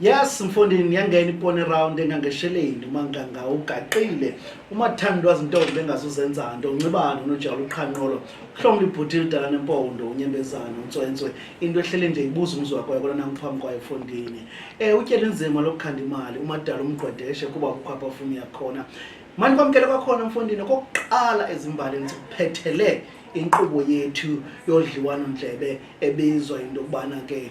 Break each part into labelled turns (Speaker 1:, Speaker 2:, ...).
Speaker 1: Yes mfondini yangena ipone round engangesheleni umanganga ugaqile umathandwa zintombi bengazuzenza nto uncibane unojalo uqhanqolo uhlomla ibhuti lidala nempondo unyembezana untswentswe into ehlele nje ibuza umzi wakwayo kona nangiphambi kwayo mfondini um eh, utyela inzima lokukhanda imali umadala umgqwedeshe kuba kukho apha funi yakhona mani kwamkele kwakhona mfondini okokuqala ezimbalini sikuphethele inkqubo yethu yodliwano ndlebe ebizwa into yokubana ke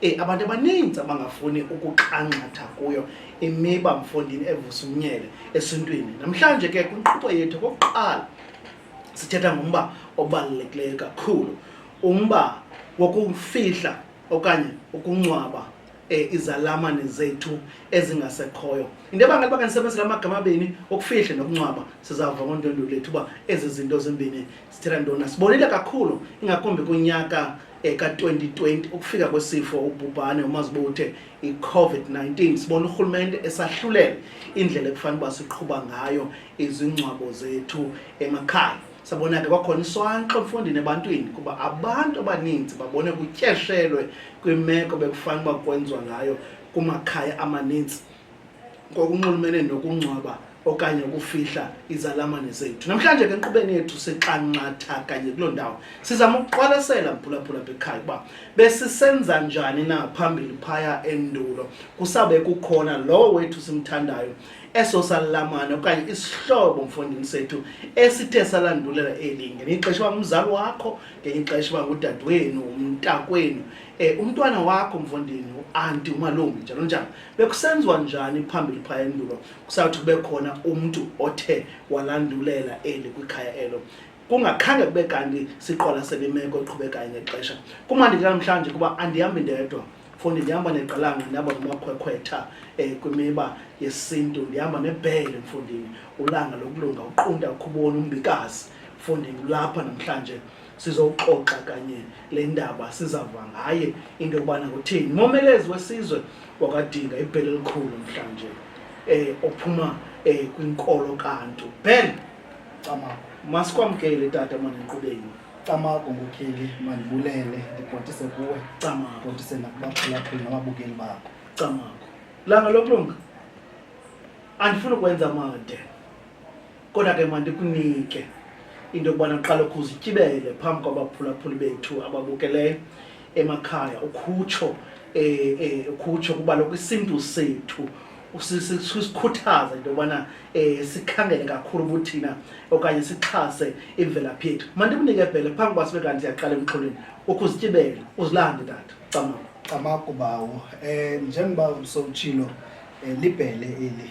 Speaker 1: Eh, abantu abaninzi abangafuni ukuxanxatha kuyo imiba mfondini evusa umnyele esintwini namhlanje ke kwinkqubo yethu kokuqala sithetha ngumba obalulekileyo kakhulu umba wokufihla okanye ukungcwaba eh, izalamane zethu ezingasekhoyo into ebangela uba kandisebenzela amagama abini okufihle nokungcwaba sizava ngontwendu lethu uba ezi zinto zimbini sithetha ntona sibonile kakhulu ingakumbi kunyaka eka-2020 ukufika kwesifo ubhubhane umazibo uthe i-covid-19 sibona urhulumente esahlulela indlela ekufanele uba siqhuba ngayo izingcwabo zethu emakhaya sabona ke kwakhona iswanxo emfundini ebantwini kuba abantu abaninzi babone kutyeshelwe kwimeko bekufanele uba kwenziwa ngayo kumakhaya amaninzi ngokunxulumene nokungcwaba okanye ukufihla izalamane zethu namhlanje ke enkqubeni yethu sixanxatha kanye kuloo ndawo sizama ukuqwalasela mphulaphula bekhaya ukuba besisenza njani na phambili phaya endulo kusabe kukhona lowo wethu simthandayo eso salamane okanye isihlobo mfondini sethu esithe salandulela eli ngenye ixesha uba ngumzali wakho ngenye ixesha uba ngudadewenu umntakwenu um umntwana wakho mfondini uanti umalume njalo njalo bekusenziwa njani phambili phaya endulo kusawuthi kube khona umntu othe walandulela eli kwikhaya elo kungakhange kube kanti siqola selimeko eqhubekayo ngexesha kumandi ke namhlanje kuba andihambi ndedwa fundi ndihamba neqalanga ndihamba nomakhwekhwetha um kwimiba yesintu ndihamba nebhele mfundini ulanga lokulunga uqunta ukhuboni umbikazi mfundini ulapha namhlanje sizoxoxa kanye le ndaba sizava ngaye into yokubana kutheni momelezi wesizwe wakadinga ibhele elikhulu mhlanje eh ophuma eh kwinkolo kantu ben camago
Speaker 2: masikwamkele
Speaker 1: tata maniqubeni camago
Speaker 2: ngokheli mandibulele ndibhotise kuwe camago bhotise
Speaker 1: nakubaphulaphuli
Speaker 2: nababukeli bakho camago
Speaker 1: langa lokulunga andifuni ukwenza made kodwa ke mandikunike into yokubana uqala ukuzityibele phambi kwabaphulaphuli bethu ababukeleyo emakhaya ukhutsho um eh, eh, ukhutsho kuba lokwisintu sethu sikhuthaza into yobana um sikhangele kakhulu kuthina okanye sixhase imvelaphi yethu mandikunike bhele phambi kuba sibe kanti siyaqala emxholweni ukuzityibela uzilande tata camako camako
Speaker 2: bawo um njengoba usowutshilo um libhele eli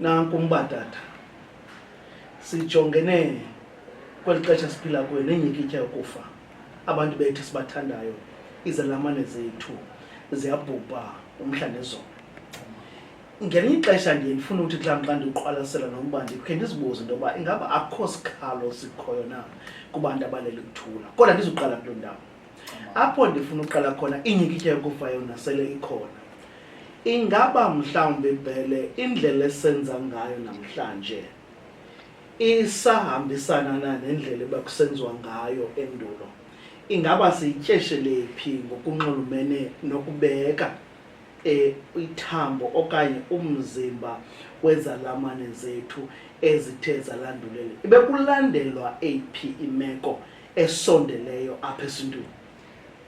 Speaker 1: Nanku umba tata, sijongene kweli xesha siphila kuyo nenyikitya yokufa. Abantu bethu sibathandayo, izelamane zethu ziyabhubha umhla nezolo. Ngelinye ixesha ndiye ndifune ukuthi xa mxa ndiqwalasela nomba ndikhe ndizibuze into yokuba ingaba akukho sikhalo sikhoyo na kubantu abalele kuthula. Kodwa ndizuqala kuloo ndawo. apho ndifuna uqala khona inyikitya yokufa yona sele ikhona ingaba mhlawumbi bhele indlela esenza ngayo namhlanje isahambisana na nendlela ebakusenziwa ngayo endulo ingaba siyityeshelephi ngokunxulumene nokubeka eh, ithambo okanye umzimba wezalamane zethu ezithe zalandulela ibe kulandelwa eyiphi imeko esondeleyo apha esintwini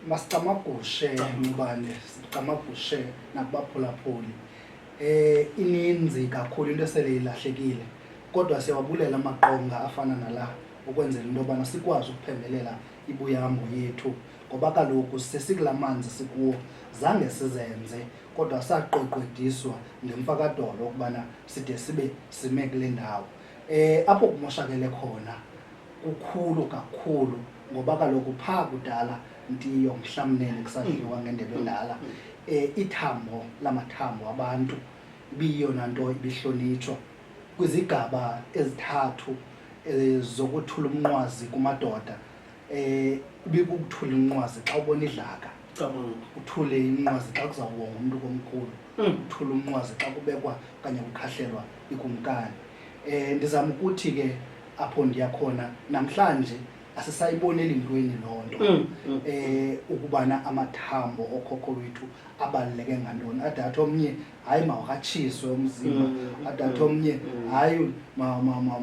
Speaker 1: masicamagushe
Speaker 2: nobane sicamagushe nakubaphulaphuli eh ininzi kakhulu into esele ilahlekile kodwa siyawabulela amaqonga afana nala ukwenzela into yobana sikwazi ukuphembelela ibuyahambo yethu ngoba kaloku sesikula manzi sikuwo zange sizenze kodwa saqweqwediswa ngemfakadolo ukubana side sibe sime kule ndawo um apho kumoshakele khona kukhulu kakhulu ngoba kaloku phaa kudala ndiyo mhlamnene kusadliwa mm. ngendebe endala um ithambo lamathambo abantu ibiyiyona nto ibihlonitshwa kwizigaba ezithathu eh, zokuthula umnqwazi kumadoda um ibikukuthula inqwazi xa ubona idlaka uthule inqwazi xa kuzawuwonga umntu komkhulu mm. thula umnqwazi xa kubekwa okanye kukhahlelwa ikumkani um ndizama ukuthi ke apho ndiyakhona namhlanje asisayiboneli ntweni loo nto um ukubana amathambo okhokho wethu abaluleke ngantoni adatha omnye hayi mawukatshiswe umzimba mm, adatha mm, omnye mm. hayi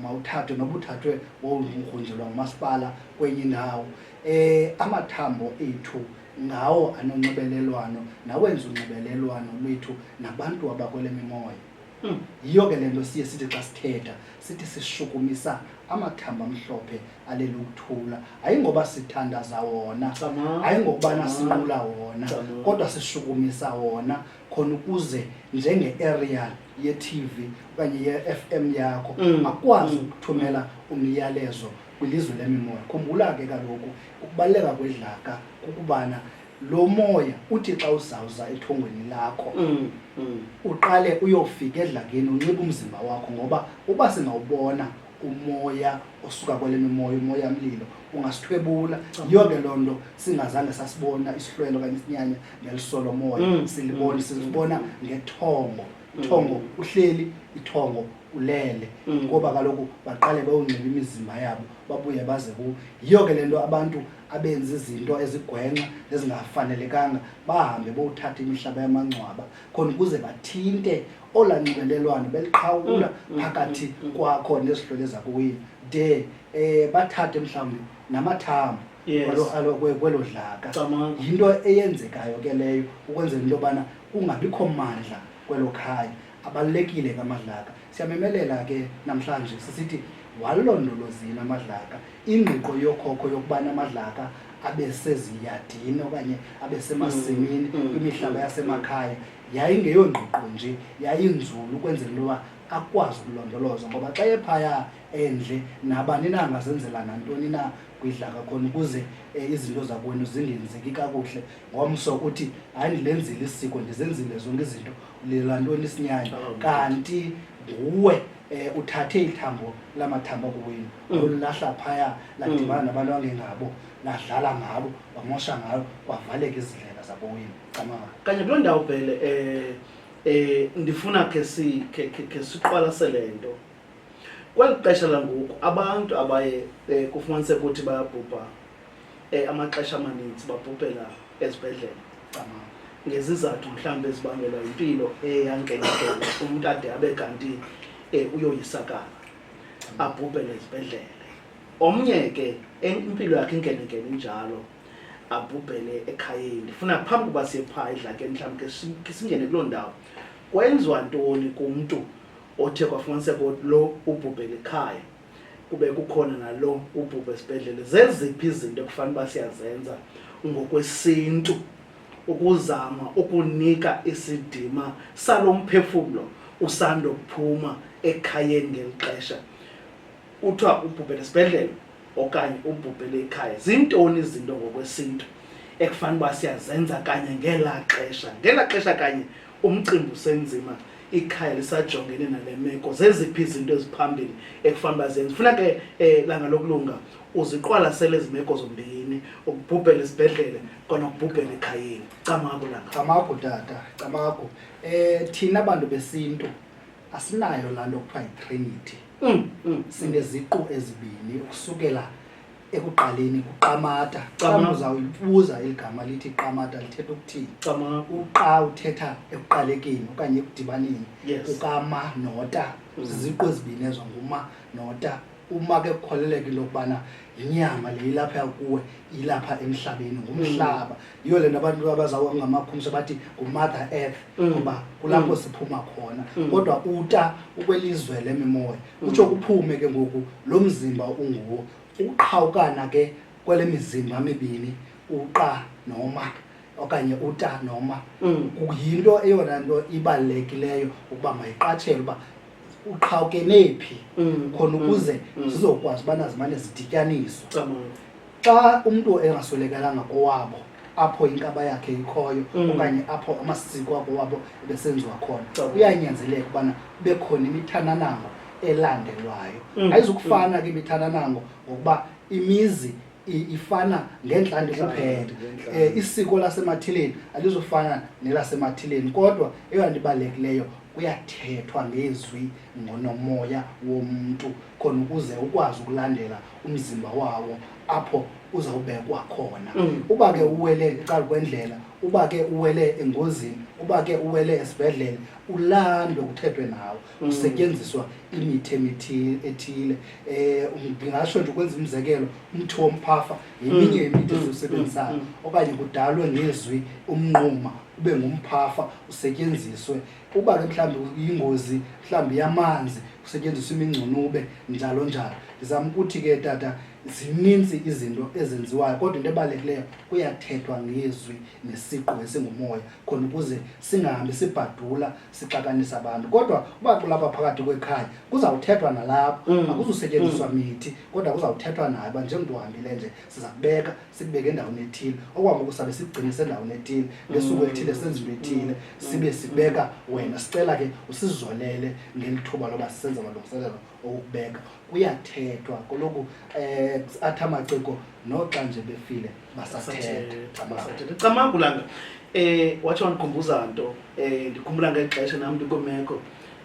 Speaker 2: mawuthathwe noba uthathwe wowungrunjelwa ngumasipala kwenye indawo um amathambo ethu ngawo anonxibelelwano nawenza unxibelelwano lwethu nabantu abakwele mimoya hmm. yiyo ke le nto siye sithi xa sithetha sithi sishukumisa amathamba amhlophe alele ukuthula ayingoba sithandaza wona ayingokubana sinqula wona kodwa sishukumisa wona khona ukuze njenge-aerial ye-tv okanye ye-f m yakho mm. akwazi mm. ukuthumela umyalezo kwilizwe lemimoya. Khumbula ke kaloku ukubaluleka kwedlaka kukubana lo moya uthi xa uzawuza ethongweni lakho mm, mm. uqale uyofika edlakeni unxiba umzimba wakho ngoba uba singawubona umoya osuka kwale mimoya umoya mlilo ungasithwebula yiyo ke loo nto singazange sasibona isihlwelo okanye isinyanya ngelisolomoya mm, silibona sizibona ngethongo thongo uhleli ithongo ulele mm. ngoba kaloku baqale bewungciba imizimba yabo babuye baze kuwo yiyo ke le nto abantu abenza izinto ezigwenxa ezingafanelekanga bahambe bowuthatha imihlaba yamangcwaba khona ukuze bathinte ola nxibelelwano beliqhawula mm, mm, phakathi kwakho nezihlwele zakuwini de um bathathe mhlawumbi namathambo kwelo dlaka yinto eyenzekayo ke leyo ukwenzela into yobana kungabikho mandla kwelo khaya abalulekile ngamadlaka siyamemelela ke namhlanje sisithi walondolozini amadlaka ingqiqo yokhokho yokubana amadlaka abe seziyadini okanye abe semasimini mm, mm, kwimihlaba mm, yasemakhaya yayingeyongqiqo nje yayinzulu ukwenzela into yoba akwazi ukulondolozwa ngoba xa ephaya endle nabani na angazenzela nantoni na kwidlaka khona ukuze um izinto zakweni zingenzeki kakuhle ngomso uthi hayi ndilenzile isiko ndizenzile zonke izinto ulilela ntoni isinyanya oh, kanti nguwe um uthathe ithambo lamathambo kuwenu mm. olulahla phaya ladibana mm. nabantu angengabo ladlala ngabo wamosha ngayo kwavaleka izindlela zabowenu camama kanye kuloo
Speaker 1: ndawo bhele um eh ndifuna ke si ke ke siqwalase lento kweli xesha langoku abantu abaye eh, kufumanise ukuthi bayabhubha um amaxesha amaninzi babhubhela ezibhedlele ngezizathu mhlawumbi ezibangelwa yimpilo eyankenkelo umntu ade abe kanti um uyoyisakala abhubhele ezibhedlele omnye ke impilo yakhe inkenenkene injalo abhubhele ekhayeni ndifuna phambi kuba siyephaa edlakeni mhlawumbi ke singene kuloo ndawo kwenziwa ntoni kumntu othe kwafumaniseka lo ubhubhele ekhaya kube kukhona nalo ubhubha esibhedlele zeziphi izinto ekufanele uba siyazenza ngokwesintu ukuzama ukunika isidima salo mphefumlo usandokuphuma ekhayeni ngeli xesha kuthiwa ubhubhele esibhedlele okanye ubhubhele ekhaya zintoni izinto ngokwesintu ekufanele uba siyazenza kanye ngelaa xesha ngelaa xesha kanye umcimbi usenzima ikhaya lisajongene nale meko zeziphi izinto eziphambili ekufanele uba zenze funa ke um langa lokulunga uziqwalasele ezi meko zombini ukubhubhela esibhedlele kona ukubhubhela ekhayeni camaku langa camaku tata
Speaker 2: camaku um thina bantu besintu asinayo laa nto kuthiwa yitrinity mm, mm. sineziqu ezibini ukusukela ekuqaleni kuqamata xa Qama. uzawuyibuza eli gama lithi qamata lithetha ukuthini cama uqa uthetha ekuqalekeni okanye ekudibaneni Yes. kukama nota Mm. ziziqu ezibini ezo nguma nota uma ke kukholeleka into yokubana yinyama le ilapha kuwe ilapha emhlabeni ngumhlaba yiyo le nto abantu abazawuwa ngamakhumsha bathi ngumother earth Mm. ngoba kulapho Mm. siphuma khona Mm. kodwa uta ukwelizwe lemimoya kutsho kuphume ke ngoku lo mzimba unguwo ukuqhawukana ke kwele mizimba mibini uqa noma okanye uta noma Mm. yinto eyona nto ibalulekileyo ukuba mayiqatshelwe uba uqhawukene phi Mm. khona Mm. ukuze Mm. zizokwazi ubana zimane zidityaniswa Cabanga. xa umntu engaswelekelanga kowabo apho inkaba yakhe ikhoyo mm. okanye apho amasiko abo wabo ebesenziwa khona kuyanyanzeleka ubana kube khona imithananango elandelwayo mm. ayizukufana ke imithananango ngokuba imizi ifana ngentlandi kuphela um isiko lasemathileni alizofana nelasemathileni kodwa eyona nto ibalulekileyo kuyathethwa ngezwi ngonomoya womntu khona ukuze ukwazi ukulandela umzimba wawo apho uzawubekwa khona mm. uba ke uwele ecala kwendlela uba ke uwele engozini uba ke uwele esibhedlele ulandwe kuthethwe nawo mm. kusetyenziswa imithe ethile um ndingatsho nje ukwenza umzekelo umthi womphafa yeminye mm. yemithe esiwusebenzisayo okanye kudalwe ngezwi umnquma ube ngumphafa usetyenziswe uba ke mhlawumbi yingozi mhlawumbi yamanzi kusetyenziswa imingcunube njalo njalo ndizama ukuthi ke tata zininzi izinto ezenziwayo kodwa into ebalulekileyo kuyathethwa ngezwi nesiqu esingumoya khona ukuze singahambi sibhadula sixakanisa abantu kodwa uba kulapha phakathi kwekhaya kuzawuthethwa nalapho mm. akuzusetyenziswa mm. mithi kodwa kuzawuthethwa nayo uba njengoba uhambile nje siza kubeka sikubeke endaweni ethile okwangoku sabe sikugcine sendaweni ethile ngesuku elithile senza into ethile sibe sibeka wena sicela ke usizolele ngeli thuba loba sisenza amalungiselelo okukubeka kuyathethwa koloku um eh, athi amaciko noxa nje befile basathetha Basathetha. Camagu
Speaker 1: langa eh watsho wandikhumbuza nto eh ndikhumbula ngexesha nam ndikwimeko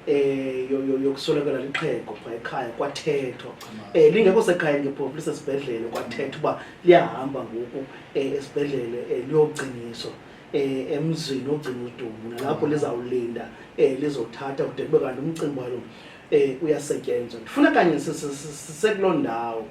Speaker 1: eh yo- yo- yokuswelekela lixhego phaa ekhaya kwathethwa eh lingekho sekhayeni ke phofu lisesibhedlele kwathethwa uba liyahamba ngoku eh esibhedlele eh liyogciniswa eh emzini ogcina udumbu nalapho lizawulinda eh lizothatha kude kube kanti umcimbi walo eh uyasetyenzwa ndifuna kanye si- si- si- sisekuloo ndawo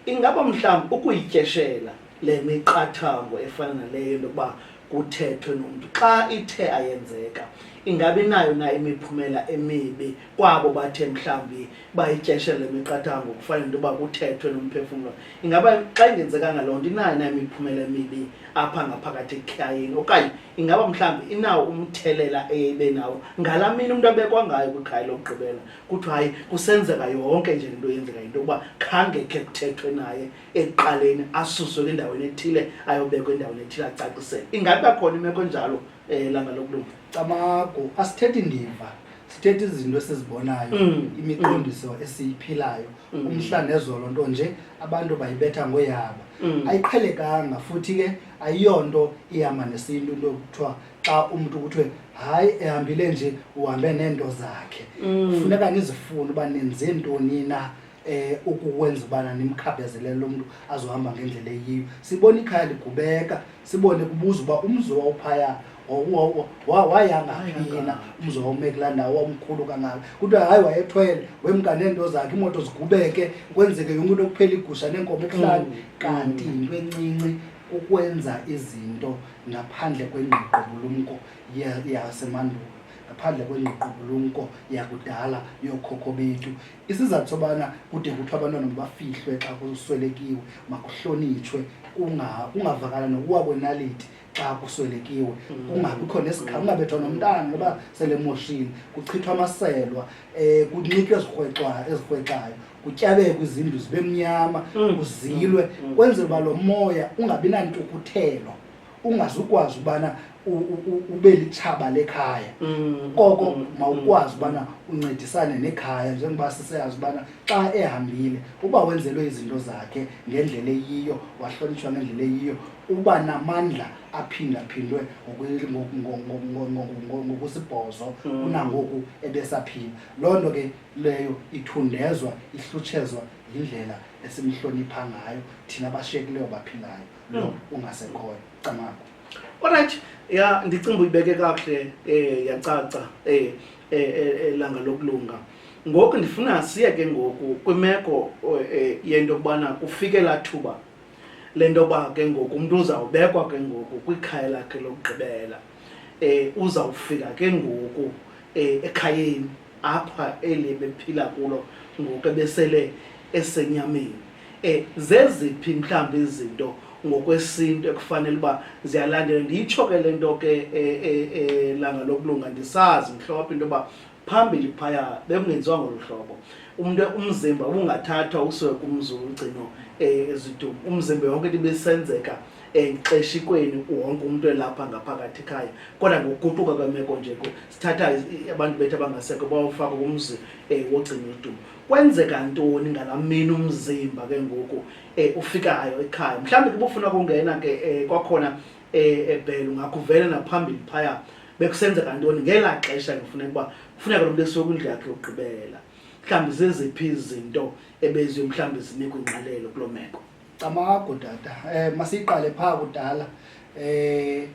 Speaker 1: ingaba mhlawumbi ukuyityeshela le miqathango efana naleyo into yokuba kuthethwe nomntu xa ithe ayenzeka ingabi nayo na imiphumela emibi kwabo bathe mhlawumbi bayityeshe le miqathango kufanele into yoba kuthethwe nomphefumlo ingaba xa ingenzekanga loo nto inayo na imiphumela emibi apha ngaphakathi ekhayeni okanye ingaba mhlawumbi inawo umthelela eye ibe nawo ngala mini umntu abekwa ngayo kwikhaya lokugqibela kuthiwa hayi kusenzeka yonke nje le nto yenzeka yinto yokuba khange khe kuthethwe naye ekuqaleni asuswe kwindaweni ethile ayobekwa endaweni ethile acacisele ingabi bakhona imeko
Speaker 2: enjalo
Speaker 1: um langa lokulunga camago asithethi
Speaker 2: ndiva
Speaker 1: sithetha
Speaker 2: izinto esizibonayo mm. imiqondiso mm. esiyiphilayo mm. umhla nezolo nto nje abantu bayibetha ngoyabo ayiqhelekanga futhi ke ayiyonto ihamba nesintu into kuthiwa xa umntu kuthiwe hayi ehambile nje uhambe neento zakhe funeka nizifune uba nenze ntoni na eh ukukwenza ubana nimkhabezele lo mntu azohamba ngendlela eyiyo sibona ikhaya ligubeka sibone kubuza uba umzi wawuphaya wayangaphina umzi wawume kulaa ndawo wawumkhulu kangaka kuthiwa hayi wayethwele wemka neento zakhe iimoto zigubeke kwenzeke yonke into kuphela igusha neenkomo ekuhlani mm. kanti yinto encinci ukwenza izinto ngaphandle kwengqiqobulumko yasemandulo ngaphandle kwengqiqobulumko yakudala yookhokho bethu isizathu sobana kude kuthiwa abantwana mabafihlwe xa kuswelekiwe makuhlonitshwe kungavakala nokuwa kwenaliti xa kuswelekiwe mm. kungabikho nesikhala kungabethwa nomntana noba selemoshini kuchithwa amaselwa um kunxitywe ezirhwexayo kutyabekwe izindlu zibe mnyama mm. kuzilwe mm. kwenzela uba lo moya ungabi nantukuthelo ungazukwazi ubana ube litshaba lekhaya mm, koko mm, mawukwazi mm. ubana uncedisane nekhaya njengoba siseyazi ubana xa ehambile uba wenzelwe izinto zakhe ngendlela eyiyo wahlonitshwa ngendlela eyiyo uba namandla aphindaphindwe ngokusibhozo kunangoku ebesaphila loo nto ke leyo ithundezwa ihlutshezwa yindlela esimhlonipha ngayo thina bashiyekileyo baphilayo no ungasekhoyo camakho olright
Speaker 1: ya ndicinga uba uyibeke kakuhle um yacaca um elanga lokulunga ngoku ndifuna siye ke ngoku kwimeko eh, yento yokubana kufike laa thuba le nto yoba ke ngoku umntu uzawubekwa ke ngoku kwikhaya lakhe lokugqibela eh uzawufika ke ngoku eh, ekhayeni apha eli bephila kulo ngoku ebesele esenyameni eh zeziphi mhlawumbi izinto ngokwesintu ekufanele uba ziyalandela ndiyitsho ke le nto ke eh, eh, eh, langa lokulunga ndisazi mhlophe into yoba phambili phaya bekungenziwa ngolu hlobo umntu umzimba ubungathathwa usiwe kumzi womgcino um eh, ezidum umzimba yonke nto ibisenzeka exeshikweni wonke umntu elapha ngaphakathi ekhaya kodwa ngokuguquka kwemeko nje ku sithatha abantu bethu abangasekho bawufaka kumzi um eh, wogcina udum kwenzeka ntoni ngala mini umzimba ke ngoku um eh, ufikayo ekhaya mhlawumbi kubufuna kungena ke um kwakhona um ebhele ungakuvele naphambili phaya bekusenzeka ntoni ngelaa xesha kufuneka uba kufuneka lo mntu esuke kwindlu yakhe yokugqibela mhlawumbi zeziphi izinto ebeziyo mhlawumbi zinikwa ingqalelo kuloo meko camago tata
Speaker 2: um eh, masiyiqale phaa kudala um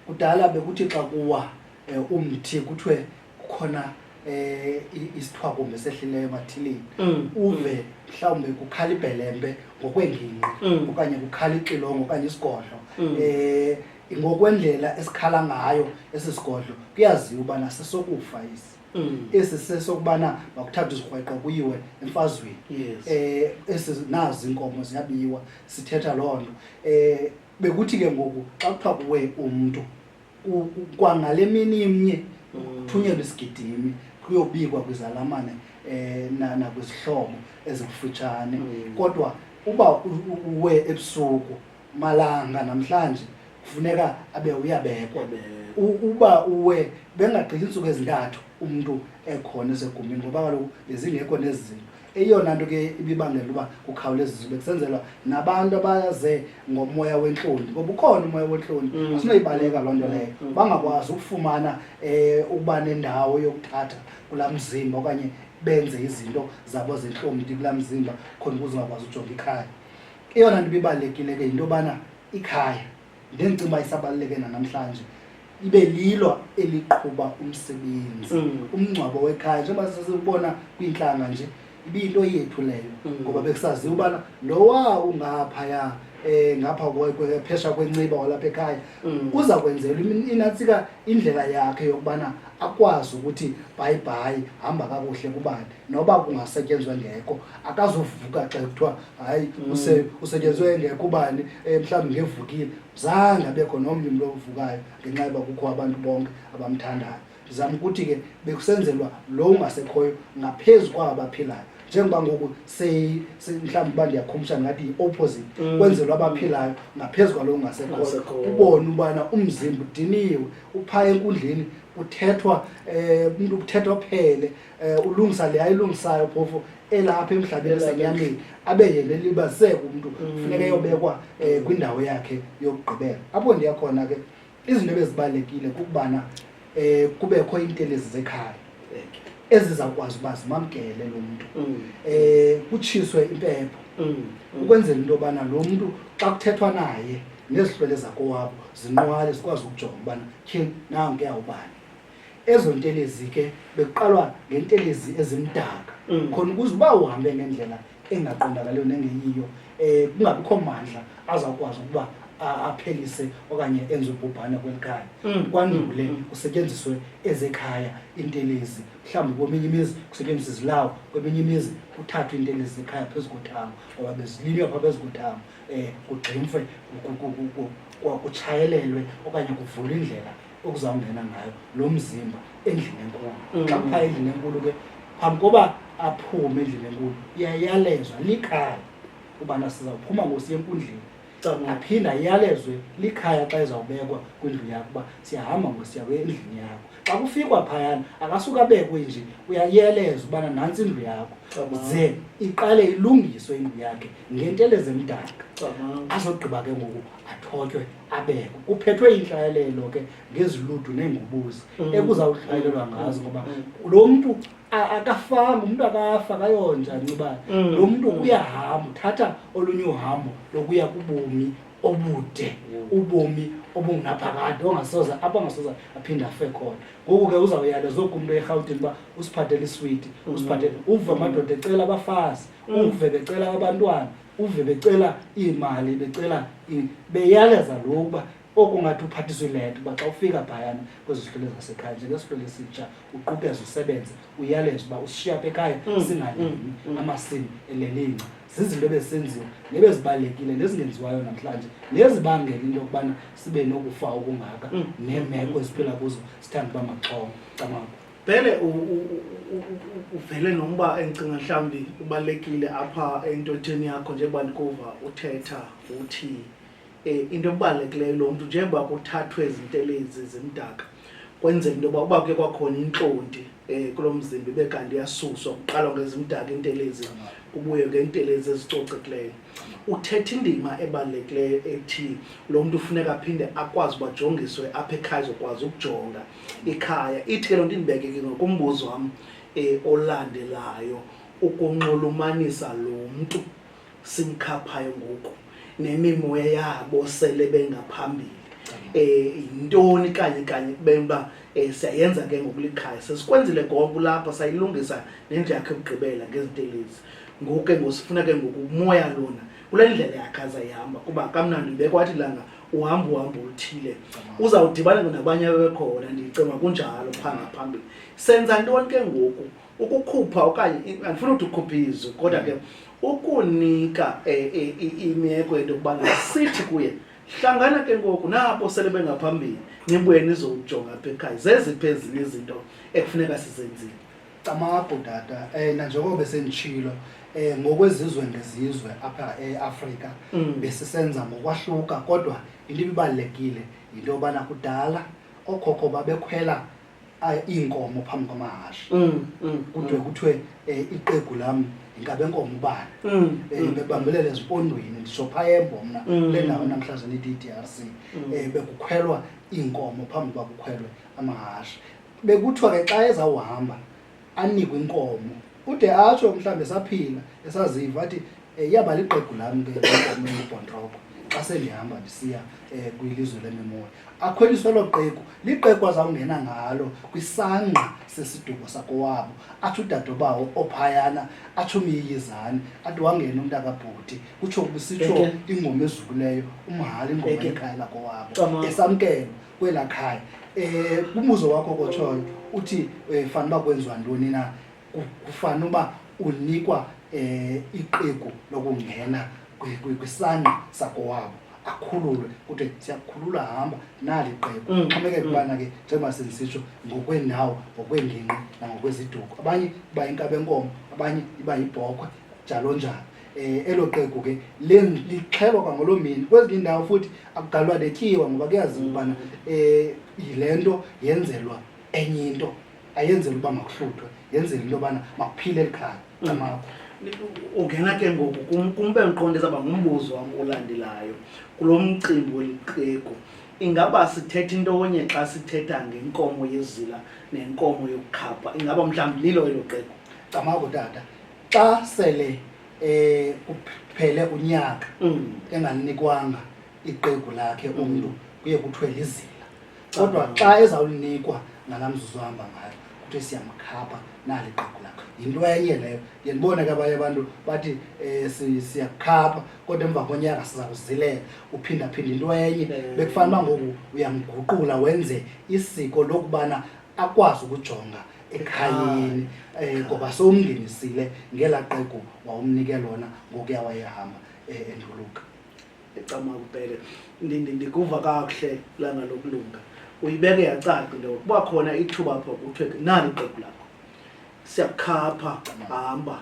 Speaker 2: kudala bekuthi xa kuwa um umthi kuthiwe kukhona eh isithwakumbe sehlileyo mathilini mm. uve mm. mhlawumbe kukhala ibhelembe ngokwengingqi mm. okanye kukhala ixilongo okanye isigodlo eh ngokwendlela esikhala ngayo esi sigodlo kuyaziwa ubana sesokufa esi mm. esi sesokubana makuthathwa izikrweqo kuyiwe emfazweni yes. eh esi nazi inkomo ziyabiwa sithetha loo nto eh bekuthi ke ngoku xa kuthiwa kuwe umntu kwangale mini imnye mm. kuthunyelwa isigidimi kuyobikwa kwizalamane eh nakwizihlobo ezikufutshane mm. kodwa uba uwe ebusuku malanga namhlanje kufuneka abe uyabekwa uba uwe bengagqithi iintsuku ezintathu umntu ekhona esegumbini ngoba kaloku bezingekho nezi zinto eyona nto ke ibibangela uba kukhawuleza zube kusenzelwa nabantu abaze ngomoya wentloni ngoba ukhona umoya wentloni mm. asinoyibaleka loo nto leyo mm. bangakwazi ukufumana um ukuba nendawo yokuthatha kulaa mzimba okanye benze izinto zabo zentlomdi kulaa mzimba khona ukuze ungakwazi ujonga ikhaya Eyona nto ibibalulekile ke yinto yobana ikhaya ndendicinga uba isabaluleke nanamhlanje ibe lilo eliqhuba umsebenzi mm. umngcwabo wekhaya njengoba sesibona kwiintlanga nje ibiyinto yethu leyo mm. ngoba bekusaziwa ubana lowa ungaphaya um ngapha phesha kwenciba walapha ekhaya mm. uza kwenzelwa inantsika indlela yakhe yokubana akwazi ukuthi bhayibhayi hamba kakuhle kubani noba kungasetyenzwa engekho akazovuka xa kuthiwa hayi mm. usetyenzwe engekho ubani eh, mhlawumbi ngevukile zange abekho nomnye umntu ovukayo ngenxa yoba kukho abantu bonke abamthandayo ndizama ukuthi ke bekusenzelwa lo ungasekhoyo ngaphezu kwaba baphilayo njengoba ngoku mhlawumbi uba ndiyakhumsha ngathi yi-opposite mm. kwenzelwa abaphilayo ngaphezu kwalo ungasekhoyo ubone ubana umzimba udiniwe uphaya enkundleni kuthethwa um eh, umntu kuthethwa phele um ulungisa le ayilungisayo phofu elapha emhlabeni esenyameni abe yena elibaziseka umntu mm. funeka eyobekwa um kwindawo yakhe yokugqibela apho ndiya khona ke izinto ebezibalulekile kukubana um kubekho iintelezi zekhaya ezizawukwazi uba zimamkele lo mntu um kutshiswe impepho mm. ukwenzela into yobana lo mntu xa kuthethwa naye nezihlwele zakowabo zinqwale zikwazi ukujonga ubana tyhini nankuya ubani ezo ntelezi ke bekuqalwa ngentelezi ezimdaka mm. khona ukuze uba uhambe ngendlela engaqondakaliyo nengeyiyo um kungabikho mandla azawukwazi ukuba aphelise okanye enze ubhubhane kweli khaya mm. kwandule mm. kusetyenziswe ezekhaya intelezi mhlawumbi kweminye imizi kusetyenziswa izilawo kweminye imizi kuthathwe intelezi zekhaya phezu kothango ngoba bezilinywa phaa phezu kothango um kugximfwe kutshayelelwe okanye kuvulwe indlela okuzawungena ngayo lo mzimba endlini enkulu mm. xa kuphaa endlini enkulu ke phambi koba aphume endlini enkulu iyayalezwa likhaya ubana sizawuphuma ngosiya enkundleni aphinda iyalezwe likhaya xa ezawubekwa kwindlu yakho uba siyahamba ngosiya endlini yakho xa kufikwa phayana akasuke abekwe nje uyayeleza ubana nantsi indlu yakho ze iqale ilungiswe indlu yakhe ngentelezemdaka azogqiba ke ngoku athotywe abekho kuphethwe intlawelelo ke ngeziludu neengubuzi mm. ekuzawuhlawulelwa ngazo ngoba mm. lo mntu akafanga umntu akafa kayonja ncibane mm. lo mntu uyahamba uthatha olunye uhambo lokuya kubomi obude ubomi obungunaphakade ongasoza apho angasoza aphinde afe khona ngoku ke uzawuyale zoku umntu erhawutini uba usiphathele iswiti usiphathele uve amadoda ecela abafazi uve becela abantwana uve becela iimali becela beyaleza lo uba oku ngathi uphathiswa ilento uba xa ufika phayana kwezi zihlwele zasekhaya njengesihlwele esitsha uqukeze usebenze uyaleza uba usishiya apha ekhaya mm, singalimi mm, mm. amasimi elelinca zizinto ebesenziwa nebezibalulekile nezingenziwayo namhlanje nezibangela into yokubana sibe nokufa okungaka neemeko eziphila kuzo sithanda uba maxhongo camaku Bhele
Speaker 1: uvele nomba endicinga mhlawumbi ubalulekile apha entotheni yakho njengoba ndikuva uthetha uthi um into ebalulekileyo lo mntu njengoba kuthathwe izintelezi zimdaka kwenzeka into yoba uba kuye kwakhona intlonti um kulo mzimba ibe kanti iyasuswa kuqalwa ngezimdaka intelezi kubuye ngentelezi ezicocekileyo uthetha indima ebalulekileyo ethi lo mntu ufuneka aphinde akwazi uba jongiswe apha ekhaya zokwazi ukujonga ikhaya ithi ke loo nto indibeke ke ngokumbuzo wam um olandelayo ukunxulumanisa lo mntu simkhaphayo ngoku nemimoya yabo sele bengaphambili eh yintoni kanye kanye bemba eh, siyayenza ke ngokulikhaya sesikwenzile konke lapha sayilungisa nendlu yakhe ukugqibela ngezintelezi ngoku ke ngosifuna ke ngoku umoya lona kule ndlela yakhe azayihamba kuba kamnandi ubekwathi langa uhamba uhambo oluthile uzawudibana nabanye abebekhona ndicinga kunjalo phaa ngaphambili senza ntoni ke ngoku ukukhupha okanye andifuna ukuthi ukhuphe izwi kodwa ke ukunika eh, eh, imeko yento yokubana sithi kuye hlangana ke ngoku nabo sele bengaphambili nibuye nizowujonga apha ekhaya zeziphi ezinye izinto ekufuneka sizenzile Camagu tata
Speaker 2: eh nanjengoba besenditshilo eh ngokwezizwe ngezizwe apha eAfrika Mm. besisenza ngokwahluka kodwa into ibibalekile into yobana kudala okhokho babekhwela ah, iinkomo phambi kwamahashe Mm, mm, kudwe kuthiwe eh, iqegu lam yinkabe nkomo ubani mm, Eh, mm. bebambelela ezimpondweni nditsho phayembo mna Mm. le ndawo namhlanje nithi i-drc Mm. um bekukhwelwa iinkomo phambi kwakukhwelwe amahashe bekuthiwa ke xa ezawuhamba anikwe inkomo ude atsho mhlawumbi esaphila esaziva athi um iyaba liqegu lam ke inkomo engubhontroko xa sendihamba ndisiya um kwilizwe lemimoya akhweliswe elo qeku liqeku azawungena ngalo kwisangqa sesiduko sakowabo athi udadobawo ophayana athi umyiyizane athi wangena umntu akabhuti kutsho kusitsho ingoma ezukileyo umhali ingoma ekhaya lakowabo esamkelwa kwela khaya eh umbuzo wakho kotshoyo uthi eh, fana uba kwenziwa ntoni na Ku- kufana uba unikwa eh iqegu lokungena kwi- kwi- kwisangqa sakowabo akhululwe kuthi siyakukhulula hamba nali qegu Mm, xhomekeke mm. ubana ke njengoba sendisitsho ngokweendawo ngokweengingqi nangokweziduko abanye iba yinkabenkomo abanye iba yibhokhwe njalo njalo um elo qegu ke lixhelwa kwangoloo mini kwezinye iindawo futhi akugalwa netyiwa ngoba kuyaziwa ubana um yile nto yenzelwa enye into ayenzela uba makuhluthwe yenzela into yobana makuphile eli khaya camakho ungena
Speaker 1: ke ngoku kumbe ndiqonde zaba ngumbuzo wam olandelayo kulo mcimbi weliqegu ingaba sithetha into onye xa sithetha ngenkomo yezila nenkomo yokukhapha ingaba mhlawumbi lilo elo qegu camako tata
Speaker 2: xa sele eh kuphele unyaka Mm. enganikwanga iqegu lakhe umntu kuye kuthiwe lizila kodwa xa ezawulinikwa ngala mzuzu ahamba ngayo kuthiwe siyamkhapha nali iqegu lakhe yinto enye leyo ndiye ndibone ke abanye abantu bathi um siyakukhapha kodwa emva konyaka siza kuzilela uphindaphinda into enye Ewe. bekufanele uba ngoku uyamguqula wenze isiko lokubana akwazi ukujonga ekhayeni um ngoba sowumngenisile ngela qeku wawumnike lona ngokuya wayehamba um eh, enduluka ecama
Speaker 1: kubhele ndikuva kakuhle langa lokulunga uyibeke yacaca into yokuba khona ithuba apho kuthiwe nani iqeku lakho siyakukhapha hamba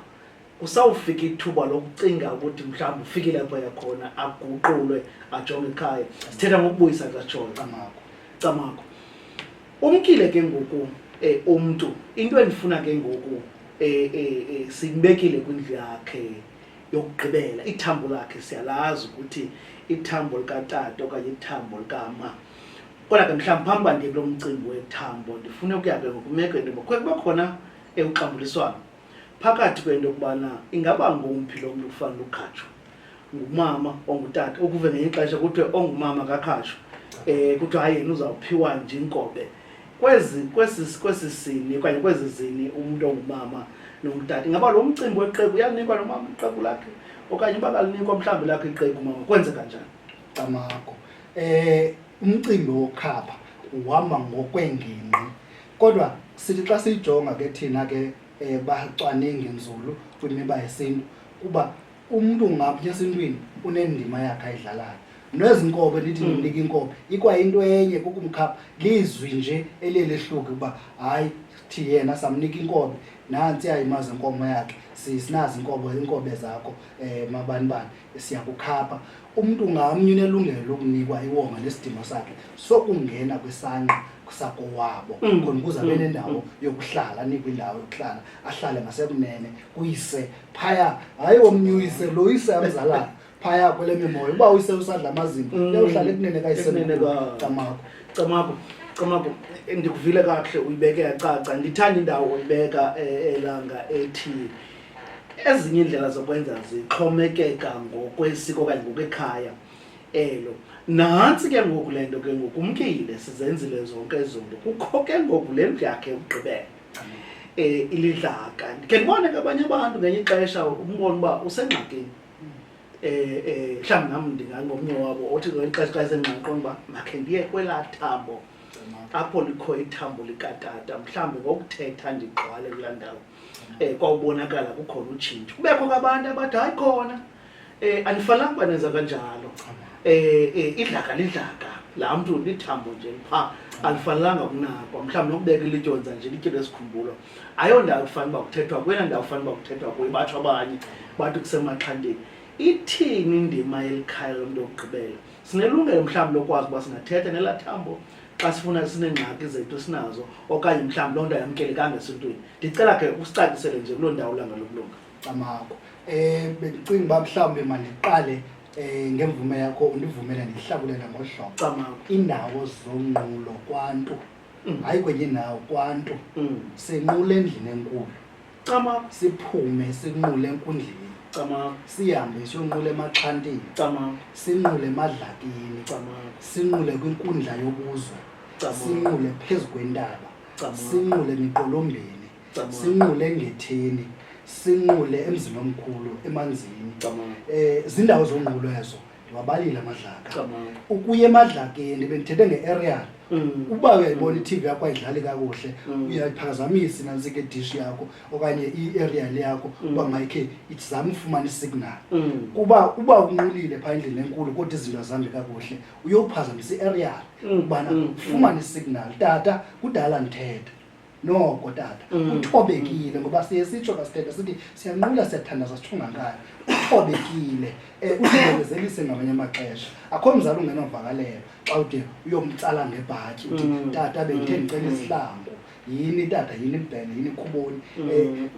Speaker 1: kusawufika ithuba lokucinga ukuthi mhlawumbi ufikile apho yakhona aguqulwe ajonge ekhaya sithetha ngokubuyisa katshoyo camakho camakho umkile ke ngoku um eh, umntu into endifuna ke ngoku um eh, eh, siyibekile kwindlu yakhe yokugqibela ithambo lakhe siyalazi ukuthi ithambo likatata okanye ithambo likama kodwa ke mhlawumbi phambi uba ndiye kulo mcimbi wethambo ndifune ukuya ke ngokumeko into yoba kube khona uxambuliswano phakathi kwento yokubana ingaba ngomphi lo mntu kufanele ukhatshwa ngumama ongutata ukuve ngenye ixesha kuthiwe ongumama kakhatshwa um eh, kuthiwa hayi yena uzawuphiwa nje inkobe kwezi kwesi kwesi sini okanye kwezi zini umntu ongumama nomtata ingaba lo mcimbi weqeku uyanikwa nomama iqeku lakhe okanye uba kalinikwa mhlawumbi lakho iqeku mama kwenzeka njani camako
Speaker 2: um eh, umcimbi wokhapha uhamba ngokweengingqi kodwa sithi xa siyijonga ke thina ke um bacwaningi nzulu kwimiba yesintu kuba umntu ngaphi esintwini unendima yakhe ayidlalayo nezi nkobe ndithi hmm. ndinika inkobe ikwayinto enye kukumkhapha lizwi nje eliye lehluke uba hayi thi yena samnika inkobe nantsi ayimazi inkomo yakhe sinazi inkobo inkobe zakho um eh, mabanibani siyakukhapha umntu ngamnye unelungelo lokunikwa iwonga nesidingo sakhe sokungena kwisangqa sakowabo mm. khona ukuze abe mm. nendawo mm. yokuhlala anikwe indawo yokuhlala ahlale ngasekunene kuyise phaya hayi womnye uyise lo yise amzalayo phaya kwele mimoya uba uyise usadla amazinto uyawuhlala ekunene kayisecamakho camakho
Speaker 1: Camagu ndikuvile kakuhle uyibeke yacaca ndithanda indawo oyibeka eh, elanga ethi ezinye iindlela zokwenza zixhomekeka ngokwesiko okanye ngokwekhaya elo nantsi ke ngoku le nto ke ngoku umkile sizenzile zonke ezonto kukho ke ngoku le ndlu yakhe yokugqibela um eh, ilidlaka ndikhe ndibone ke abanye abantu ngenye ixesha umbona uba usengxakini eh eh mhlawumbi nami ndingangomnye wabo othi ngeli xesha xa esengxaqo uba makhe ndiye kwelaa thambo apho likho ithambo likatata mhlawumbi ngokuthetha ndigqwale kulaa ndawo um kwawubonakala kukhona utshintsho kubekho kwabantu abathi hayi khona um anifanelanga uba nenza kanjalo um idlaka lidlaka laa mntu lithambo nje pha alifanelanga kunakwa mhlawumbi nokubeka ilityonza nje lityelo esikhumbulo ayondawo kufanele uba kuthethwa kwena ndawo kufanele uba kuthethwa kuyo batsho abanye bathi kusemaxhanteni ithini indima yelikhayo lomntu wokugqibela sinelungelo mhlawumbi lokwazi uba singathetha nelaa thambo xa sifuna sineengxaki zethu sinazo okanye mhlawumbi loo nto ayamkelekanga esintwini ndicela ke usicacisele nje kuloo ndawo langa lokulunga camako um
Speaker 2: eh, bendicinga uba mhlawumbi mandiqale um ngemvume yakho undivumele ndihlakulela ngohlobo camako iindawo zonqulo kwantu mm. hayi kwenye indawo kwantu mm. senqula endlini enkulu cama siphume sinqule enkundleni cama sihambe siyonqula emaxhantini cama sinqule emadlakini cama sinqule kwinkundla yobuzwe sinqule phezu kwentaba sinqule miqolombeni sinqule engetheni sinqule emzini omkhulu emanzini um zindawo zonqulo ezo ndiwabalile amadlaka Cabanga. ukuya
Speaker 1: emadlakeni
Speaker 2: bendithethe nge-aerial Mm. uba uyayibona i-tv yakho ayidlali kakuhle Mm. uyayiphazamisa nantsika idishi yakho okanye i-aerial yakho uba mayikhe izame ufumana isignal Mm. kuba uba unqulile phaa endlini enkulu kodwa izinto azihambi kakuhle uyophazamisa i-aerial Mm. ubana Mm. ufumane isignal tata kudala ndithetha noko tata mm. uthobekile ngoba siye sitsho kasithetha sithi siyanqula siyathandaza sithungankani uthobekile um eh, uzibekezelise ngamanye amaxesha akho mzali ungenovakalelo xa ude uyomtsala ngebhatyi uthi mm. tata bendithe ndicela mm. isihlangu yini tata yini mbhele yini khuboni um eh,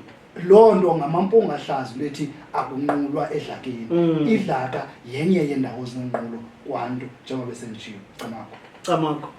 Speaker 2: loo nto ngamampunga ahlazi lwethi akunqulwa edlakeni idlaka yenye yeendawo zinenqulo kwantu njengoba besenditshiyo camakho camakho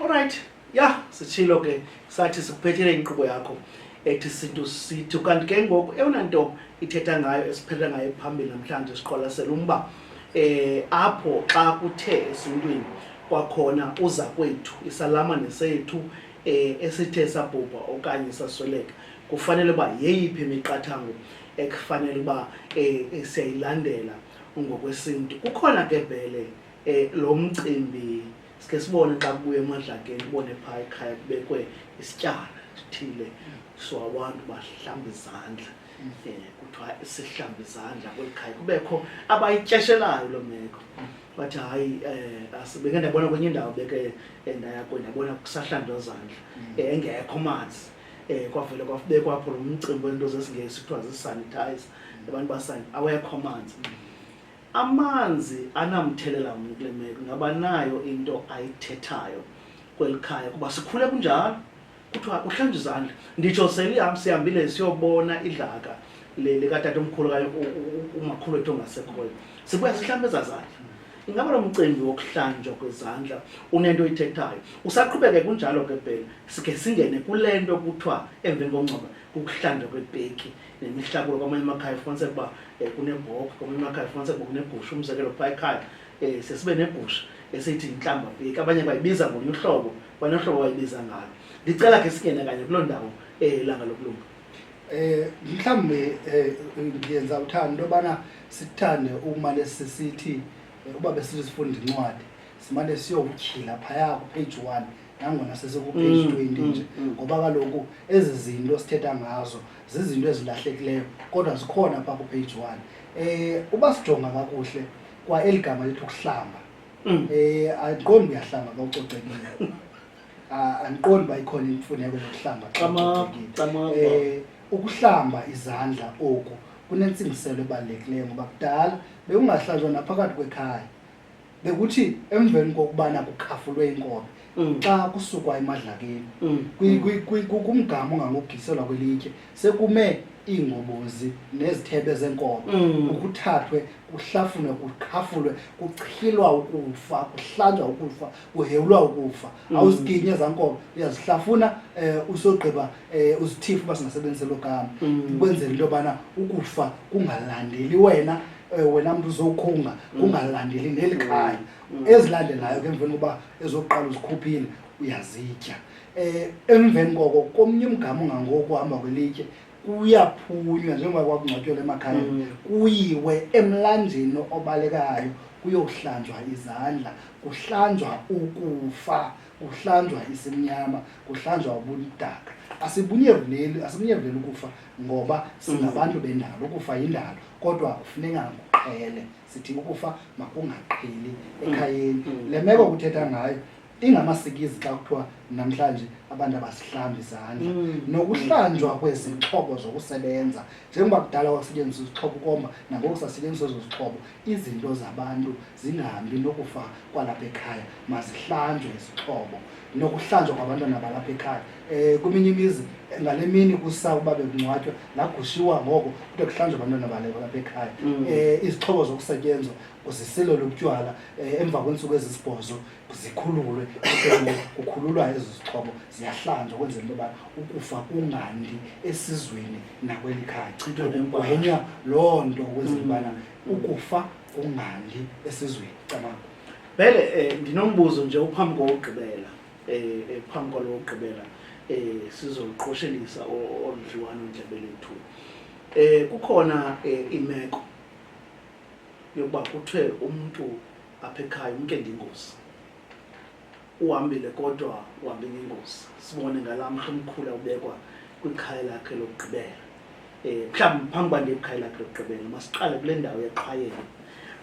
Speaker 1: olrayithi ya sitshilo ke sathi sikuphethele inkqubo yakho ethi sintu sithi kanti ke ngoku eyona nto ithetha ngayo esiphetha ngayo phambili namhlanje siqwalasela umba eh apho xa kuthe esintwini kwakhona uza kwethu isalama nesethu eh esithe sabhubha okanye sasweleka kufanele uba yeyiphi imiqathango ekufanele uba eh, eh siyayilandela ngokwesintu kukhona ke vele eh lo mcimbi sike sibone xa kubuye emadlakeni ubone phaa ekhaya kubekwe isityana sithile so abantu bahlamba izandla um kuthiwa sihlamba izandla kweli khaya kubekho abayityeshelayo loo meko bathi hayi um beke ndabona kwenye indawo beke ndayakwe ndabona kusahlandwa zandla mm. engekho manzi eh kwavele kwafubekwa apho lo mcimbi wento zesingesi kuthiwa zisanitize abantu basange awekho amanzi Amanzi anamthelela mni kule meko? Ngaba nayo into ayithethayo kweli khaya kuba sikhule kunjalo kuthiwa kuhlanje izandla nditsho seliham sihambile siyobona idlaka likatata omkhulu kanye umakhulu wethu ongasekhoyo sibuya sihlambe ezazandla ingaba lo mcimbi wokuhlanjwa kwezandla unento oyithethayo usaqhubeke kunjalo ke bhele sikhe singene kule nto kuthiwa emveni kongcoba kukuhlanjwa kwepeki nemihlakulo kwamanye amakhaya ufumaniseka uba um kunebhokhwe kwamanye amakhaya ufumaniseka uba kunegusha umzekelo phaa ekhaya um sesibe negusha esithi yintlamba veki abanye bayibiza ngolunye uhlobo kwanye uhlobo bayibiza ngalo ndicela ke singene kanye kuloo ndawo um ilanga lokulunga eh
Speaker 2: mhlambe eh, ngiyenza uthando into yobana sithande umane sisithi eh, uba besizifunda incwadi simane siyokutyhila phaya kupage one nangona sesikupage mm, twenty mm, nje mm. ngoba kaloku ezi zinto sithetha ngazo zizinto ezilahlekileyo kodwa zikhona phaa kupage one um uba sijonga kakuhle kwa eli gama lethu ukuhlamba um mm. eh, andiqondi uyahlamba xa ucocekile andiqondi uba ikhona imfuneko yokuhlamba xa ucocekile um ukuhlamba izandla oku kunentsingiselo ebalulekileyo ngoba kudala bewungahlanjwa naphakathi kwekhaya bekuthi emveni kokubana kukhafulwe inkobe mm. xa kusukwa emadlakeni mm. kumgama ongangogiselwa kwelitye sekume iingobozi nezithebe zenkobe mm. ukuthathwe kuhlafunwe kukhafulwe kuchilwa ukufa kuhlanjwa ukufa kuhewulwa ukufa awuziginye ezaa nkobe uyazihlafuna um usogqiba um uzithifu uba singasebenziselo gama ukwenzela into yobana ukufa kungalandeli wena eh, wena mntu uzokhunga mm. kungalandeli neli mm. khaya mm. ezilandelayo ke emveni kokuba ezokuqala uzikhuphile uyazitya eh emveni koko komnye umgama ungangoku hamba kwelitye kuyaphunywa njengoba kwakungcwatywa emakhaya mm. kuyiwe emlanjeni obalekayo kuyohlanjwa izandla kuhlanjwa ukufa kuhlanjwa isimnyama kuhlanjwa ubudaka asibunyevuleli asibunyevuleli ukufa ngoba singabantu mm. bendalo ukufa yindalo kodwa kufuneka kuqhele sithi ukufa makungaqheli mm. ekhayeni mm. le meko kuthetha ngayo ingamasikizi xa kuthiwa namhlanje abantu abasihlambi izandla nokuhlanjwa kwezixhobo zokusebenza njengoba kudala kwakusetyenziswa izixhobo ukomba nangoku sasetyenziswa ezo zixhobo izinto zabantu zingahambi nokufa kwalapha ekhaya mazihlanjwe izixhobo nokuhlanjwa kwabantwana balapha ekhaya um kweminye imizi ngale mini kusa uba bekungcwatywa lagushiwa ngoko kude kuhlanjwa abantwana balapha ekhaya um izixhobo zokusetyenzwa kuzisilelwe ubutywala um eh, emva kweentsuku ezisibhozo zikhululwe kukhululwa ezo zixhobo ziyahlanjwa ukwenzela into yoba ukufa kungandi esizweni nakweli khaya kugwenywa loo nto ukwenzela ubana mm. ukufa ungandi esizweni cabanga vele um
Speaker 1: ndinombuzo nje uphambi kowugqibela um phambi kwalo wokugqibela um sizoqoshelisa olu dliwano ndlebe lethu um kukhona um imeko yokuba kuthiwe umntu apha ekhaya umntu endingozi uhambile kodwa uhambe ngengozi sibone ngala mhla umkhula ubekwa kwikhaya lakhe lokugqibela um mhlawumbi phambi uba ndiye kwikhaya lakhe lokugqibela masiqale kule ndawo yaqhayela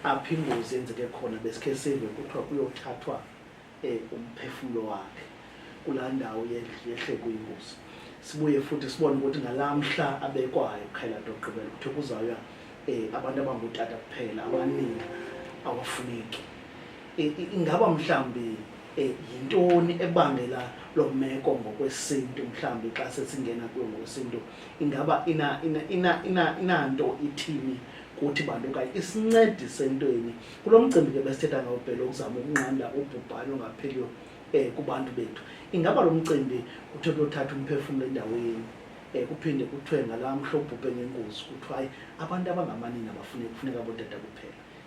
Speaker 1: apho ingozi yenzeke khona besikhe sive kuthiwa kuyothathwa um umphefumlo wakhe kulaa ndawo yehle kuyingozi sibuye futhi sibone ukuthi ngalaa mhla abekwayo kukhaya lakhe lokugqibela kuthiwa kuzawuya um abantu abangutata kuphela abaningi awafuneki ingaba mhlawumbi eh, yintoni ebangela loo meko ngokwesintu mhlawumbi xa sesingena kuyo ngokwesintu ingaba inanto ina, ina, ina, ina ithini kuthi bantu okanye isincedise entweni kulo mcimbi ke besithetha ngawo bhele ukuzama ukunqanda ubhubhane ongapheliyo um kubantu bethu ingaba lo mcimbi kuthiwe kuyothatha umphefumlo endaweni um kuphinde kuthiwe ngalaa mhla obhubhe ngengozi kuthiwa hayi abantu abangamanini abafune kufuneka boodada kuphela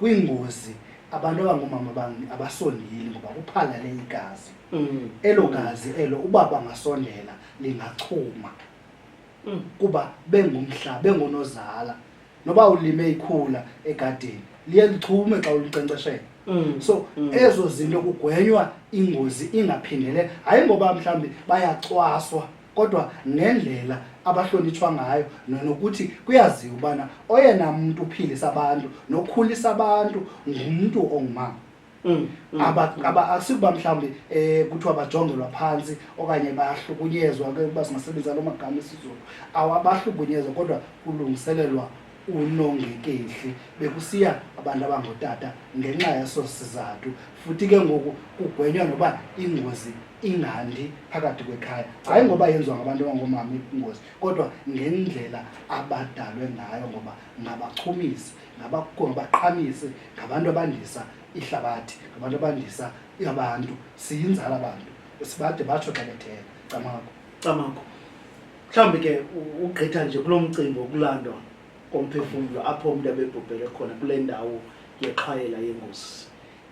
Speaker 2: kwiingozi abantu abangoomama bami abasondeli ngoba kuphalale igazi Mm. elo gazi elo uba bangasondela lingachuma Mm. kuba bengumhla bengonozala noba ulime ikhula egadini liye lichume xa ulinkcenkceshela Mm. so Mm. ezo zinto kugwenywa ingozi ingaphindele hayi ngoba mhlawumbi bayacwaswa kodwa nendlela abahlonitshwa ngayo nokuthi kuyaziwa ubana oyena mntu uphilisa abantu nokhulisa abantu ngumntu ongumama mm, mm, mm. asikuba mhlawumbi um kuthiwa bajongelwa phantsi okanye bahlukunyezwa uba singasebenzisa loo magama esizulu awabahlukunyezwa kodwa kulungiselelwa unongekehli bekusiya abantu abangotata ngenxa yeso sizathu futhi ke ngoku kugwenywa noba ingozi ingandi phakathi kwekhaya hayi ngoba yenziwa ngabantu abangoomama ingozi kodwa ngendlela abadalwe ngayo ngoba ngabachumisi ngabaqhamisi ngabantu abandisa ihlabathi ngabantu abandisa abantu siyinzala abantu sibade batsho xa betheka camako camako
Speaker 1: mhlawumbi ke ugqitha nje kulo mcimbi wokulandwa komphefumlo apho umntu abebhubhele khona kule ndawo yexhwayela yengozi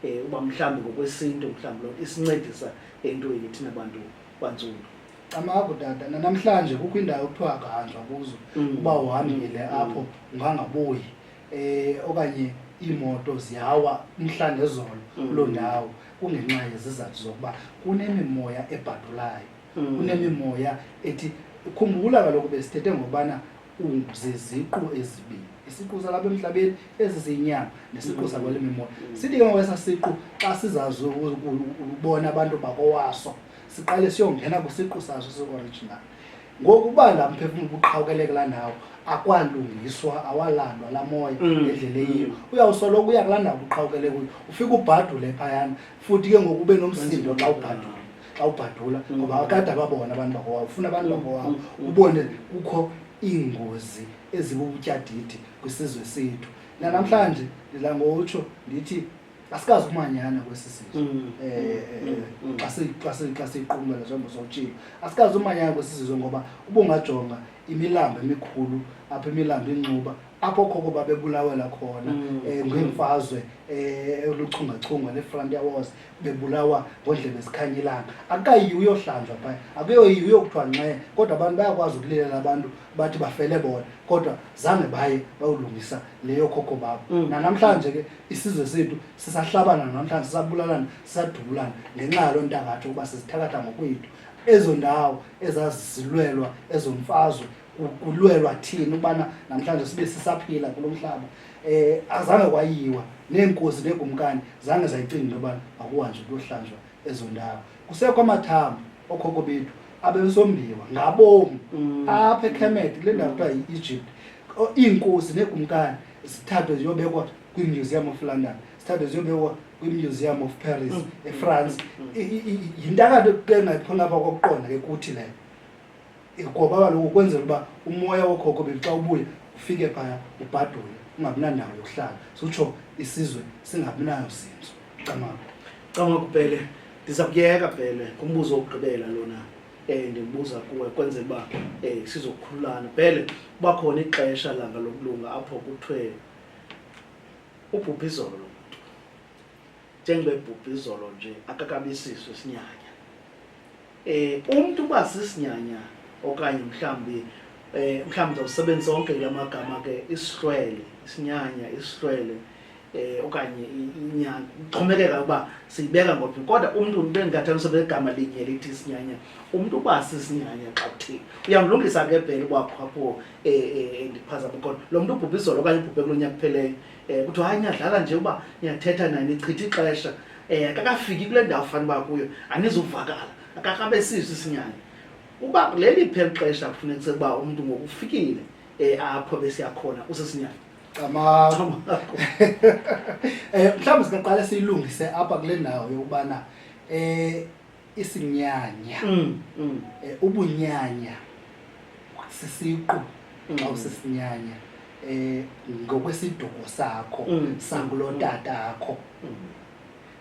Speaker 1: um uba mhlawumbi ngokwesintu mhlawumbi loo nto isincedisa entweni thina bantu bantsundu camaku
Speaker 2: tata nanamhlanje kukho indawo kuthiwa akahanjwa kuzo mm. uba uhambile mm. apho ungangabuyi um okanye iimoto ziyawa umhla nezolo mm. kuloo ndawo kungenxa yezizathu zokuba kunemimoya ebhadulayo kunemimoya ethi khumbula kaloku besithethe ngokubana ziziqu ezibini isiqu salapha emhlabeni ezi zinyama nesiqu mm. sakwale mimoya mm. sithi ke ngokwesa siqu xa sizazi ukubona abantu bakowaso siqale siyongena kwisiqu saso si-original ngoku uba la mphefumlo ubuqhawukeleke la ndawo akwalungiswa awalandwa la moya mm. endlela eyiyo uyawusoloko uya kulaa ndawo ubuqhawukeleke kuyo ufike ubhadule phayana futhi ke ngoku ube nomsindo xa ubhadule xa ubhadula mm. ngoba akade ababona abantu bakowabo ufuna abantu bakowabo mm. mm. ubone kukho iingozi ezibubutyadidi kwisizwe sethu nanamhlanje ndidla ngotsho ndithi asikazi umanyana kwesi sizwe um xa siyiqumela njengoba sowutshile asikazi umanyana kwesi sizwe ngoba ubungajonga imilambo emikhulu apha imilambo incuba apho khoko babebulawela khona um ngeemfazwe um oluchungachunga ne-frontier wars bebulawa ngodlebe zikhanye ilanga akukayiyi uyohlanjwa phaya akuyoyiyi uyokuthiwa nxe kodwa abantu bayakwazi ukulilela abantu bathi bafele bona kodwa zange baye bayolungisa leyo khokho babo mm. nanamhlanje ke isizwe sethu sisahlabana namhlanje sisabulalana sisadubulana ngenxa yaloo ntangatsho ukuba sizithakatha ngokwethu ezo ndawo ezazisilwelwa ezo mfazwe kulwelwa thini ukubana namhlanje sibe sisaphila kulo mhlaba um azange kwayiwa neenkosi neekumkani zange zayicinga into yobana makuhanjwe kuyohlanjwa ezo ndawo kusekho amathambo okhoko bethu abesombiwa ngabomi mm. apha ekhemet kule ndawo kuthiwa yi-egypt iinkosi neekumkani zithathwe ziyobekwa kwimuseum of london zithathwe ziyobekwa kwimuseum of paris mm. efrance mm. yintakade ke ngaphona apha kokuqonda ke kuthi leyo ngoba kaloku ukwenzela uba umoya wokhokho bethu xa ubuye ufike phaya ubhadule ungabi nandawo yokuhlala sutsho isizwe singabi nayo zinzo camaku
Speaker 1: camaku
Speaker 2: bhele
Speaker 1: ndiza kuyeka bhele ngumbuzo wokugqibela lona um eh, ndimbuza kuwe kwenzela uba um eh, sizokhululana bhele uba khona ixesha langa lokulunga apho kuthiwe ubhubha izolo lo muntu njengoba ebhubha izolo nje akakabisiswe sinyanya eh umuntu uba sisinyanya okanye mhlambi eh mhlambi ndawusebenzisa onke kula magama ke isihlwele isinyanya isihlwele eh okanye inyanga uxhomekeka uba siyibeka ngophi kodwa umuntu ube ndingathaniswa begama linye lithi isinyanya umuntu uba sisinyanya xa kuthini uyamlungisa ke bhele uba khapho um eh, eh, eh, ndiphazama kodwa lo mntu ubhubhe izolo okanye ubhubhe kulo nyaka kupheleyo um kuthiwa hayi niyadlala nje uba niyathetha naye nichitha ixesha um akakafiki kule ndawo fani uba kuyo anizuvakala akakabe siso isinyanya uba leli pheli xesha kufuneka sekuba umntu ngokufikile um apho besiyakhona usisinyanya
Speaker 2: camaakho um mhlawumbi singaqale siyilungise apha kule ndawo yokubana um isinyanya mm, mm. Eh, ubunyanya sisiqu mm. xa usisinyanya eh ngokwesiduko sakho mm. sangulo mm. tata akho mm.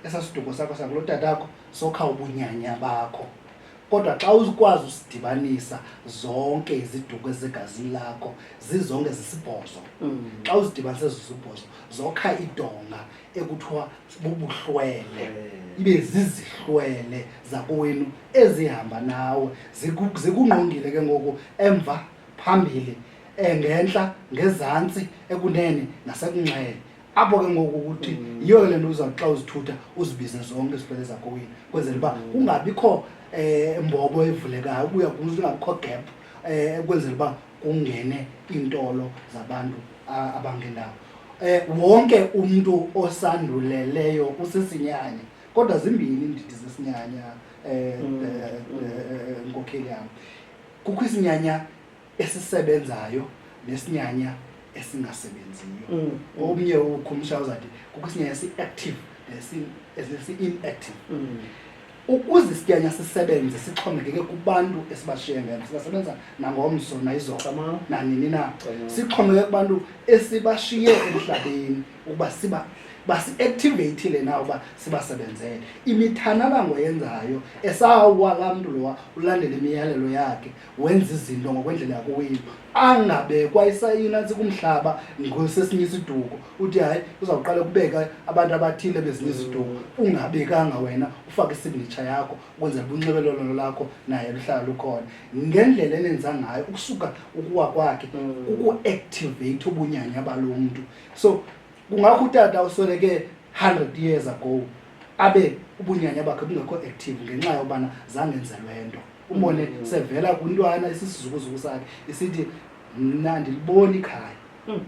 Speaker 2: esasiduko sakho sangulo tata akho sokha ubunyanya bakho kodwa xa uzikwazi usidibanisa zonke iziduko ezegazini lakho zizonke zisibhozo mm. xa uzidibanise zisibhozo zokha idonga ekuthiwa bubuhlwele eh. ibe zizihlwele zakowenu ezihamba nawe zikungqongile ke ngoku emva phambili engentla eh, ngezantsi ekunene nasekunxele apho ke ngoku ukuthi mm. yiyo ke le nto uzawuthi xa uzithutha uzibize zonke izifele zakowenu kwenzela uba mm. kungabikho um mbobo evulekayo ubuya kuze ungabikho gap um eh, kwenzela uba kungene iintolo zabantu abangendawo um wonke umntu osanduleleyo usisinyanya kodwa zimbini iindidi zesinyanya um nkokheli yam kukho isinyanya esisebenzayo nesinyanya esingasebenziyo mm, mm. omnye ukhumsha uzati kukho isinyanya si-active nesi-inactive mm. Ukuze isityanya sisebenze sixhomekeke kubantu esibashiye ngelo, singasebenza nangomso nayizolo nanini na. Sixhomekeke kubantu esibashiye emhlabeni ukuba siba basi-activatile na uba sibasebenzele. Imithanalangwa yenzayo esawuwa laa mntu lowa ulandela imiyalelo yakhe wenza izinto ngokwendlela yakowenu angabekwa isayina ntsika umhlaba ngosesinye isiduko uthi hayi uzawuqala kubeka abantu abathile bezinye iziduko ungabekanga wena ufake isignature yakho ukwenzela ubunxibelelwano lakho naye luhlala lukhona ngendlela enenza ngayo ukusuka ukuwa kwakhe kukuactivate mm. ubunyanya balo mntu so kungakho utata usweleke hundred years ago abe ubunyanya bakhe bungekho active ngenxa yobana zangenzelwe nto umbone mm. sevela kwintwana isisizukuzuku sakhe isithi mna ndiliboni ikhaya mm.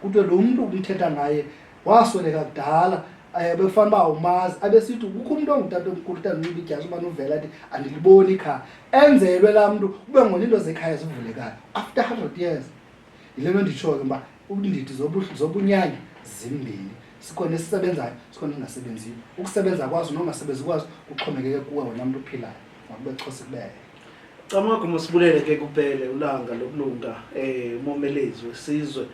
Speaker 2: kuthiwe lo mntu umthetha ngaye wasweleka kudala um eh, bekufanele uba umazi abesithi kukho umntu ongutata omkhulu utandiba idyasi ubana uvela ti andiliboni ikhaya enzelwe laa mntu kube ngona into zekhaya zivulekayo after hundred years yile nto nditshoyo uba ubundidi zobunyanya zimbini sikhona esisebenzayo sikhona esingasebenziyo ukusebenza kwazo nongasebenzi kwazo kuxhomekeke kuwe wena mntu uphilayo makube xhosa kubele camagu
Speaker 1: masibulele ke kupele ulanga lokulunga um umomelezi wesizwe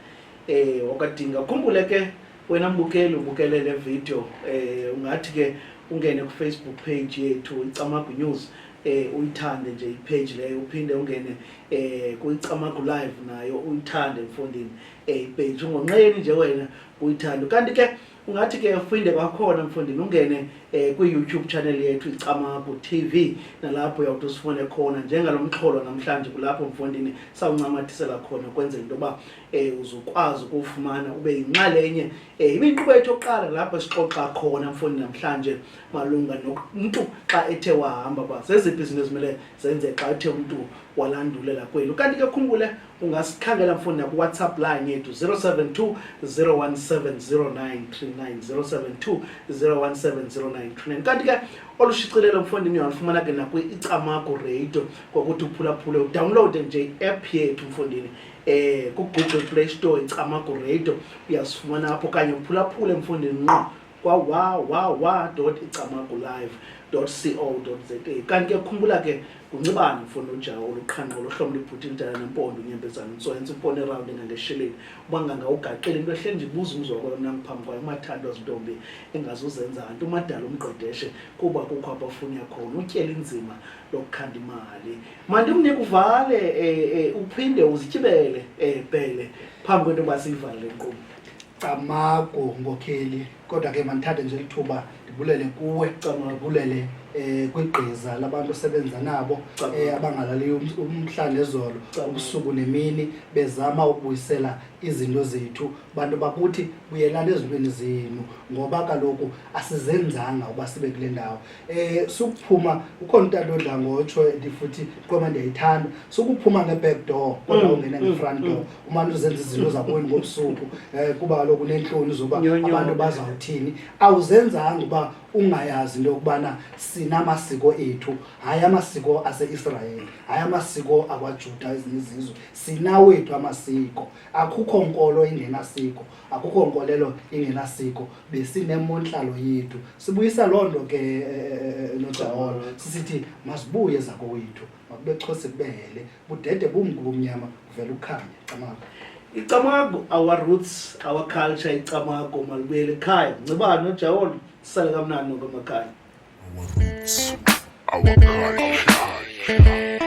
Speaker 1: um wakadinga khumbule ke wena mbukeli ubukele le video um eh, ungathi ke ungene kufacebook page yethu icamagu news eh uyithande nje ipage leyo uphinde ungene eh kuyicamagu live nayo uyithande mfundini eh page ungonqeni nje wena uyithande kanti ke ungathi ke uphinde kwakhona mfundini ungene eh kwi YouTube channel yethu icamagu TV nalapho uyawuthi usifune khona njengalomxholo namhlanje kulapho mfundini sawuncamathisela khona kwenzela into ba um uzokwazi ukuwufumana ube yinxalenye um ibe yinkqubo yethu yokuqala lapho sixoxa khona mfuni namhlanje malunga nomntu xa ethe wahamba uba zeziphi izinto ezimele zenze xa ethe umntu walandulela kweli ukanti ke khumbule ungasikhangela mfundi nakuwhatsapp line yethu 072 0170939072 01709390 kanti ke olushicilelo mfundi niyalufumana ke nakwi-icamago radio ngokuthi uphulaphule udawunlowude nje i-app yethu mfundini eh kugoogle play store icamago radio uyasifumana apho okanye uphulaphule emfundini nqo kwawawawa icamago live co za kanti ke khumbula ke nguncibane mfundo ujawo oluqhanqo lohlomo libhuti lidala nempondo unyembezana untsoyentsa impondo erawundi engangesheleni uba ngangawugaqeli into ehle ndibuza umzi wakwayo mna ngiphambi kwayo umathandwa zintombi engazuzenza nto umadala umgqedeshe kuba kukho abafuni yakhona utyela inzima lokukhanda imali mandimnike uvale eh, eh, uphinde uzityibele eh, bhele phambi kwento yoba siyivale le nkqubo camagu
Speaker 2: ngokheli kodwa ke mandithathe nje lithuba ndibulele kuwe ndibulele um kwigqiza labantu osebenza nabo um abangalali um, umhla nezolo ubusuku nemini bezama ukubuyisela izinto zethu bantu bakuthi buyelani ezintweni zenu ngoba kaloku asizenzanga uba sibe kule ndawo eh sukuphuma ukhona untando odla ngotsho ndifuthi qoma ndiyayithanda sukuphuma nge-back door kodwa mm, ungena mm, nge-front door mm. umane uzenza izinto zakweni ngobusuku um kuba kaloku uneentloni zoba abantu bazawuthini awuzenzanga uba ungayazi into yokubana sinamasiko ethu hayi amasiko aseisrayeli hayi amasiko akwajuda ezinye izizwe sinawethu amasiko akukho nkolo ingenasiko akukho nkolelo ingenasiko besinemontlalo yethu sibuyisa loo nto ke nojaolo eh, eh, eh, sisithi masibuye zakowethu makube xhose kubehele budede bumngu bumnyama kuvela ukukhanya camago icamago
Speaker 1: our roots our culture icamago malibuyele ekhaya ncibani nojaolo sisale kamnani nokwamakhaya our roots
Speaker 3: our culture